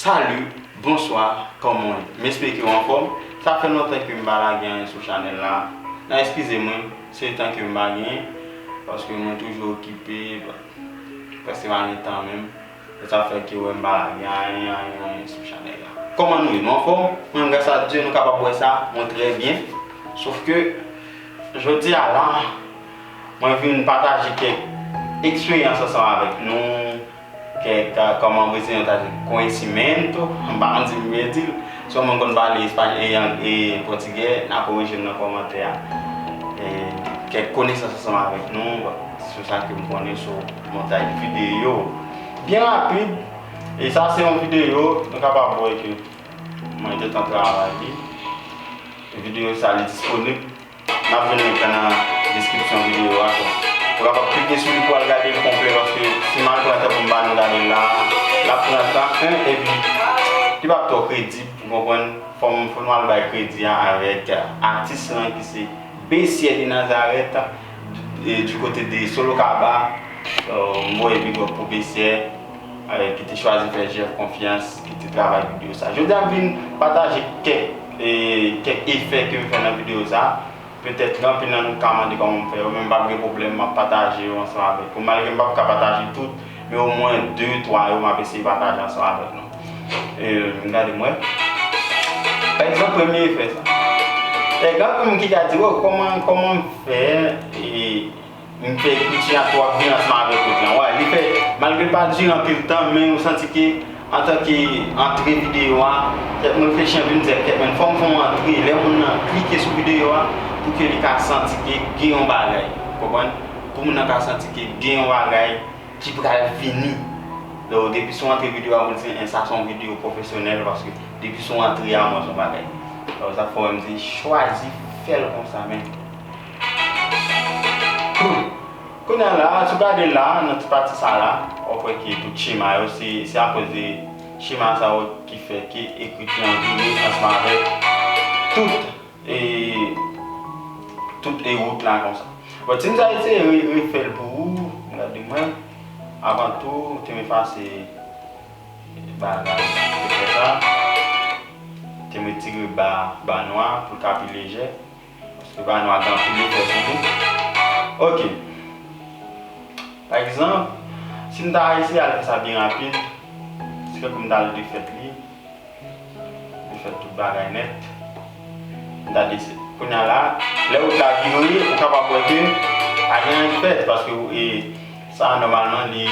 Salut bonswa kòman w m espeke w anfòm sa fè lontan ke m pa lage anyen sou chanèl la nan eskize mwen se tan ke m pa genyen paske mwen toujou okipe prèske m pa gen tan menm. Mwen ta fè ke wè m pa gen anyen anyen anyen sou chanèl la. Kòman nou ye? Nou anfòm? Mwen menm gras a Dye nou kapab wè sa, mwen trè byen. Sof ke jodi a la mwen vin pataje kèk eksperyans ansanm avèk nou, kèk kòman brezilen yo ta di conhecimento, m pa konn si m byen di l. Si yon moun konn pale espayòl e pòtigè na korije m nan kòmantè a. Kèk konesans ansanm avèk nou sou sa ke m konnen sou. Montaj videyo byen rapid e sa se yon videyo nou kapab wè ke mwen gentan travay li. Videyo sa li disponib nap jwenn link la nan deskripsyon videyo a tou. Ou kapab klike sou li pou al gade l konplè paske si mal pran tan pou m ba nou gade l la a lap pran tan 1 epi li pap twò kredib ou konprann fò m fò nou al bay kredi a avèk atis lan ki se Besier de Nazareth. Du kote de Sorocaba, m voye big up pou Bessie ki te chwazi fè Jeff konfyans, ki te travay videyo sa. Jodi a m vin pataje kèk efè ke m fè nan videyo sa. Petèt anpil nan nou ka mande kòman m fè yo, men m pa gen pwoblèm m ap pataje yo ansanm avèk ou. Malgre m p ap ka pataje tout. Men o mwen 2, 3 yo map eseye pataje ansanm avèk nou. Emm gade m wè. Pa egzanp premye efè sa. Te gen anpil moun ki ta di woww kòman kòman m fè e m fè ekriti a twò byen ansanm avèk lòt lan. Wè li fè malgre l pa dire anpil tan men ou santi ke Antanke antre videyo a, kèk moun fè chan vin dèt tèt men fòm fon antre lè moun nan klike sou videyo a pou ke li ka santi ke gen yon bagay ou konprann pou moun nan ka santi ke gen yon bagay ki pral vini lè ou depi sou antre videyo a moun se en sa son videyo pwofesyonèl paske depi sou antre a mwen son bagay alò sa fò MZ chwazi fèl konsa men. Kounya la a, si w gade la a, nan ti pati sa a la, w ap wè ke tout chema yo, se akoz de chema sa yo ki fè ke ekriti an vire ansanm avèk tout e, tout e wout la konsa. Bon, ti m ta eseye refè l pou ou, gade mwen, avan tou, te m efase bagay sa a, te fè sa, te m retire ba, ba nwa a pou l ka pi lejè, Paske bagay nwa gen anpil efè sou nou. Ok. Pa egzanp, si m ta eseye al fè sa byen rapid, se fè pou m ta al defèt li. Defèt tout bagay nèt. M ta dese. Kounya la, lè wout la vire, ou kapab wè ke pa gen anyen ki pèdi paske ou e sa nòmalman li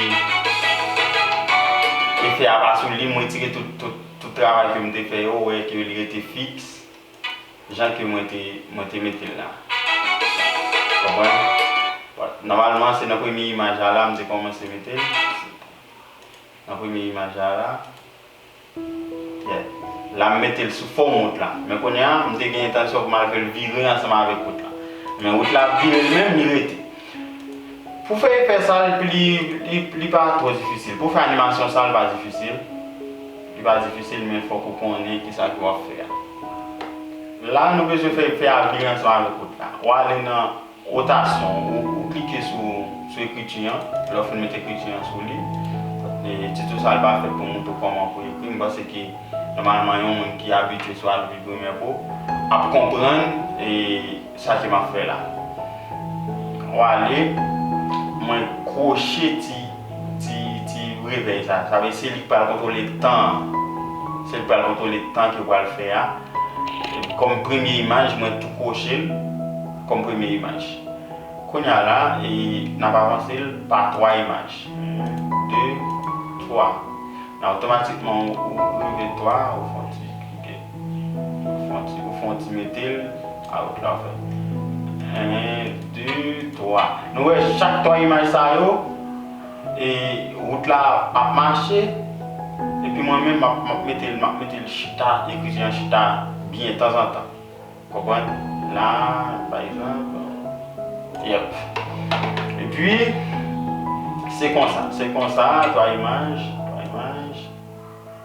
efè a pa sou li. M retire tout travay ke m te fè yo, ou wè ke li rete fiks. jan ke mwen te mwen te mete l la. Konprann? Bon, nòmalman se nan premye imaj la la m te kòmanse mete l. Nan premye imaj la la. Yeah. La m mete l sou fòm wout la. Men kounye a, m te gen entansyon pou m al fè l vire ansanm avèk wout la. Men wout la ap vire li menm, li rete. Pou fè efè sa, li li pa twò difisil. Pou fè animasyon sa, li pa difisil. Li pa difisil men fòk ou konnen kisa ke wap fè a. La nou bezwen fè fè avni an sou ane kout la. Ou ale nan rotasyon ou ou klike sou sou ekriti an. Lè ou fin met ekriti an sou li, titou sa li pa fèt pou moutre w kòman pou ekri. M panse ke nòmalman yon moun ki abitye sou Adobe Premiere Pro ap konprann e. Chaje map fè la. Wale mwen kroche ti ti ti revèy sa. Sa vle se li ki pral kontrole tan an. Se li ki pral kontrole tan ke pral fè a. Kòm premye imaj mwen tou krochel kòm premye imaj. Kounya la e nap avansel pa 3 imaj. 1 2 3 nan otomatikman ou rive 3 ou fon ti klike. Ou fon ti metel a ok la ou fè 1 2 3 nou wè chak 3 imaj sa yo e rout la ap mache epi mwen menm map metel map metel chita ekrijen an chita byen tanzantan konprann la pa egzanp yep epi se konsa se konsa 3 imaj 3 imaj.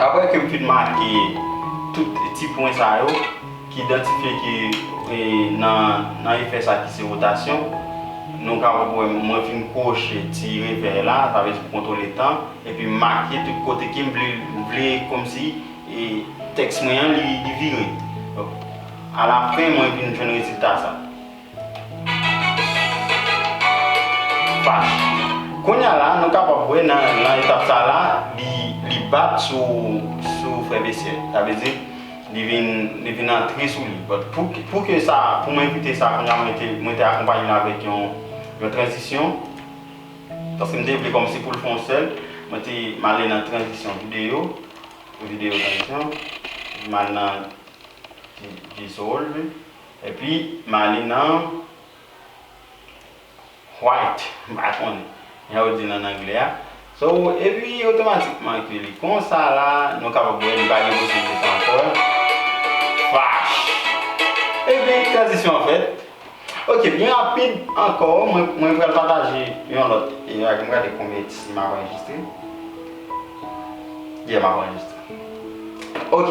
Aprè ke m fin make tout ti pwen sa yo ki idantifye ke nan efè sa ki se rotasyon, nou kapab wè mwen fin kwoche ti revèy la, sa vle di pou kontwole tan, epi m make tout kote ke m vle, m vle kòmsi tèks mwen an li vire. Donk, alafen mwen vin jwenn rezilta sa. Fach. Kounye a la, nou kapab wè nan etap sa a la, li bat sou frè Besye. Sa vle di, li vin antre sou li. But, pou ke sa, pou mwen koute sa kounye a, mwen te akonpanye l avèk yon tranzisyon. Paske m te vle kòmsi pou l fè yon sèl. Mwen te, m ale nan tranzisyon videyo. Videyo tranzisyon. M al nan dissolve. Epi malin an white m pa konnen jan yo dil an anglè a so epi otomatikman ke li konsa la nou kapab wè li pa gen posibilite ankò flash epi tranzisyon an fèt ok pi rapid ankò mwen pral pataje yon lòt imaj m gade konbyen si map anrejistre yeah map anrejistre ok.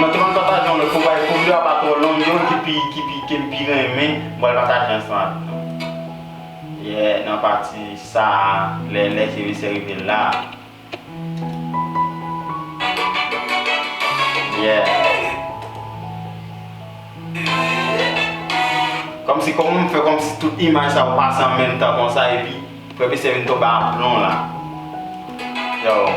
Nan te pral pataje yon lòt konpa e kou video a pa twò long gen yon ki pi ki pi kem pi renmen m pral pataje ansanm avèk nou yè nan pati sa lè lè se mesye rive la yè kòmsi kòm m fè kòmsi tout imaj sa yo pase an menm tan konsa epi. Frè misye vin tonbe a plon la yow.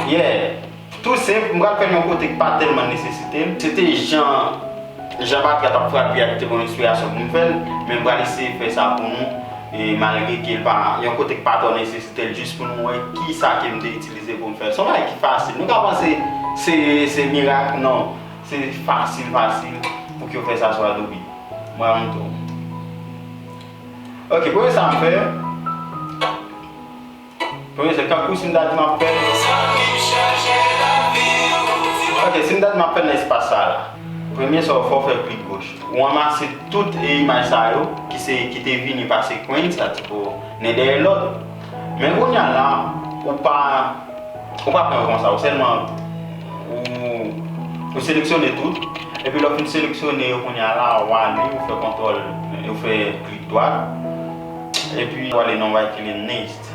Yeah Tou senp, m pral fè l yon kote k pa tèlman nesesite l. Se te jan jan batri a t ap frape a ki te ban m enspirasyon pou m fè l, men m pral eseye fè sa pou nou e malgre ke l pa yon kote k pa twò nesesite l jis pou nou wè kisa ke m te itilize pou m fè l. Se yon bagay ki fasil. Nou ka panse se se mirak nan. Se fasil fasil pou ke yo fè sa sou Adobe. Mwen ap montre w. Ok, premye sa m fè, premye se tankou si m ta di m ap fè. Ok, si m ta di m ap fè nan espas sa la. Premye sa w fè, w fè klik goch. Ou ranmase tout e imaj sa yo ki se, ki te vini pase kwenn sa ti po nen dèyè lòt. Men kounya la ou pa ou pa pran yo konsa ou sèlman ou ou seleksyone tout epi lè ou fin seleksyone yo kounya la ou ale ou fè kontwòl ou fè klik dwat epi ou ale nan write clean list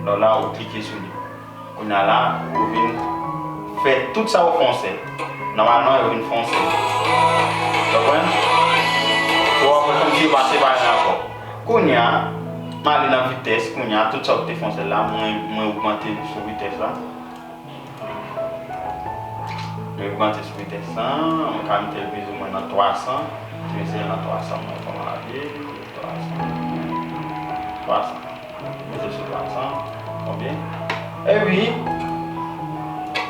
lò la ou klike sou li. Kounya la ou vin fè tout sa ou fonse. Nòmalman yo vin fonse. Konprann? Ou wè kòmsi yo pa separe nan kò. Kounya m ale nan vitès kounya tout sa ou te fonse la mwen ogmante l sou vitès la. Mwen ogmante sou vitès la. Mwen ka mete l pizimwen nan 300. Mwen eseye l nan 300 mwen wè kòman l ap ye. 300. Mete sou 300 ok epi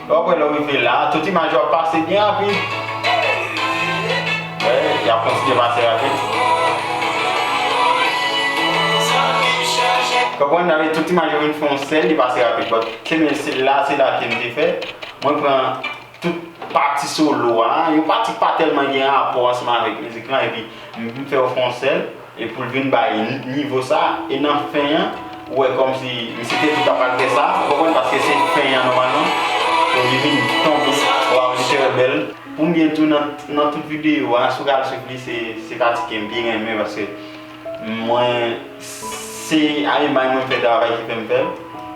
wap wè lèw rive la tout imaj yo ap pase byen rapid wè yap kontinye pase rapid konprann nan tout imaj yo vin fè yon sèl li pase rapid but se menm se la se la kem te fè mwen pran tout pati solo a yon pati ki pa tèlman gen rapò ansanm avèk mizik lan epi m fè yo fè yon sèl. E poul vin bay nivo sa e nan fen an ou wè kòmsi misye te tou ka pa fè sa ou konprann paske se fen an nòmalman pou li vin tonbe waw li trè bèl. Pou mwen tou nan tout video a si w ka al swiv li se pati ke m pi renmen paske mwen se a lemay mwen fè travay ki fè m fè l.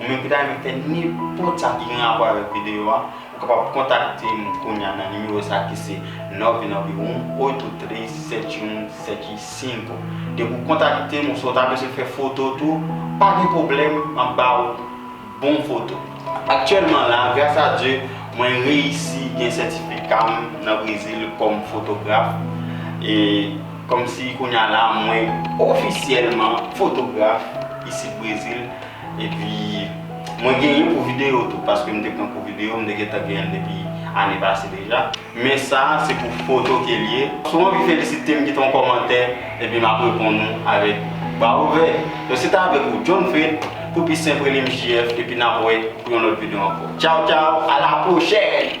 Ou menm ki ta renmen fè nenpòt sa ki gen rapò avèk videyo a, ou kapab kontakte m kounya nan nimewo sa ki se 9918837175. Depi ou kontakte m oswa ou ta bezwen fè foto tou, pa gen pwoblèm m ap ba ou bon foto. Aktyèlman la, gras a Dye, mwen reyisi gen sètifika m nan Brezil kòm fotograf. E kòmsi kounya la mwen ofisyèlman fotograf isit Brezil, Epi mwen gen youn pou video tou paske m te pran pou video m te gentan genyenl depi ane pase deja men sa se pou foto kel ye. Si w anvi felisitem kite yon kòmantè epi map reponn ou avèk bra ouvè yo se te avèk ou John Fred pou pi senp rele m JF epi nap wè pou yon lòt video ankò tchaw tchaw a la pwochèn.